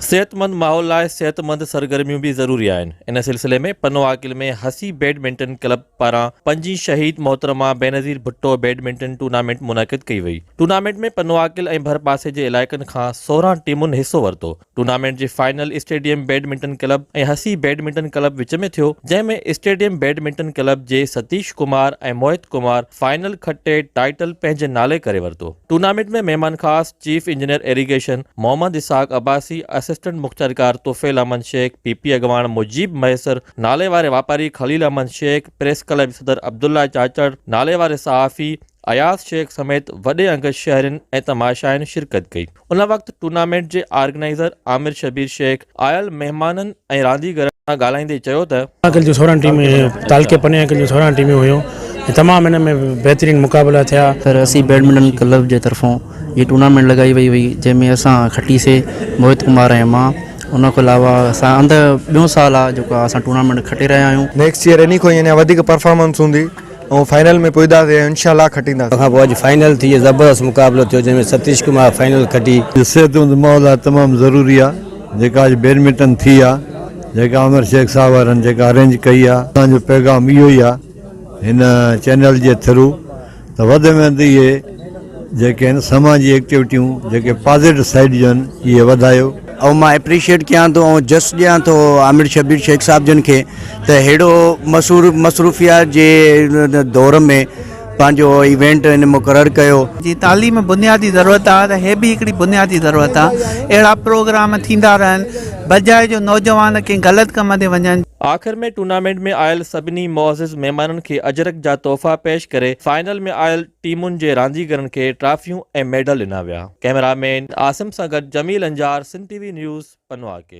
صحتمند ماحول لاء صحتمند سرگرميون به ضروري آهن ان سلسلي ۾ پنو عاقل ۾ حسي بيڊمنٽن ڪلب پاران پنجين شهيد محترمه بينظير ڀٽو بيڊمنٽن ٽورنامينٽ منعقد ڪئي وئي ٽورنامينٽ ۾ پنو عاقل ۽ ڀرپاسي جي علائقن کان سورهن ٽيمن حصو ورتو ٽورنامينٽ جي فائنل اسٽيڊيم بيڊمنٽن ڪلب ۽ حسي بيڊمنٽن ڪلب وچ ۾ ٿيو جنهن ۾ اسٽيڊيم بيڊمنٽن ڪلب جي ستيش ڪمار ۽ موهت ڪمار فائنل کٽي ٽائيٽل پنهنجي نالي ڪري ورتو ٽورنامينٽ ۾ مهمان خاص chief engineer irrigation Muhammad Ishaq Abbasi, assistant مختيارڪار طفيل احمد شيخ، پي پي اڳواڻ مجيب مهيسر، نالي واري واپاري خليل احمد شيخ، پريس ڪلب جي صدر عبدالله چاچڙ، نالي واري صحافي اياز شيخ سميت وڏي انگ شهرين ۽ تماشائين شرڪت ڪئي. ان وقت ٽورنامينٽ جي آرگنائيزر عامر شبير شيخ، آيل مهمانن ۽ رانديگرن سان ڳالهائيندي چيو ته. ڪل جون سورهن ٽيمون هيون تعلقي پني ۽ ڪل جون سورهن ٽيمون هيون ۽ تمام هن ۾ بهترين مقابلا ٿيا. سر اسين بيڊمنٽن ڪلب جي طرفون جي ٽورنامينٽ لڳائي وئي هئي جنهن ۾ اسان کٽي سي موهت ڪمار ۽ مان ان کان علاوه اسان اندر ٻيون سال آ جيڪو اسان ٽورنامينٽ کٽي رهيا آهيون. نيڪسٽ ييئر انهي کان يعنيٰ وڌيڪ پرفارمنس هوندي. ۽ فائنل ۾ پهتاسين ۽ انشاء الله کٽينداسين. ان کان پوء اڄ فائنل ٿي زبردست مقابلو ٿيو جنهن ۾ ستيش ڪمار فائنل کٽي. جو صحتمند ماء لاء تمام ضروري آ جيڪا اڄ بيڊمنٽن ٿي آ جيڪا عامر شيخ صاحب وارن جيڪا ارينج ڪئي آ اسان جو پيغام اهو ئي آ هن چينل جي ٿرو ته وڌ ۾ وڌ اهي جيڪي آهن سماج جي ايڪٽيوٽيون جيڪي پازيٽو سائيڊ جو آهن اهي وڌايو. ۽ مان اپريشيئيٽ ڪيان ٿو ۽ جس ڏيان ٿو عامر شبير شيخ صاحب جن کي ته ههڙو مصور مصروفيات جي دور ۾ پنهنجو ايونٽ هن مقرر ڪيو. جي تعليم بنيادي ضرورت آ ته هي به هڪڙي بنيادي ضرورت آ اهڙا پروگرام ٿيندا رهن بجاء جو نوجوان ڪنهن غلط ڪم تي وڃن. آخر ۾ ٽورنامينٽ ۾ آيل سڀني معزز مهمانن کي اجرڪ جا تحفا پيش ڪري فائنل ۾ آيل ٽيمن جي رانديگرن کي ٽرافيون ۽ ميڊل ڏنا ويا. ڪئميرا مين عاصم سان گڏ Jamil Anjar Sindh T V news پنواڪيل.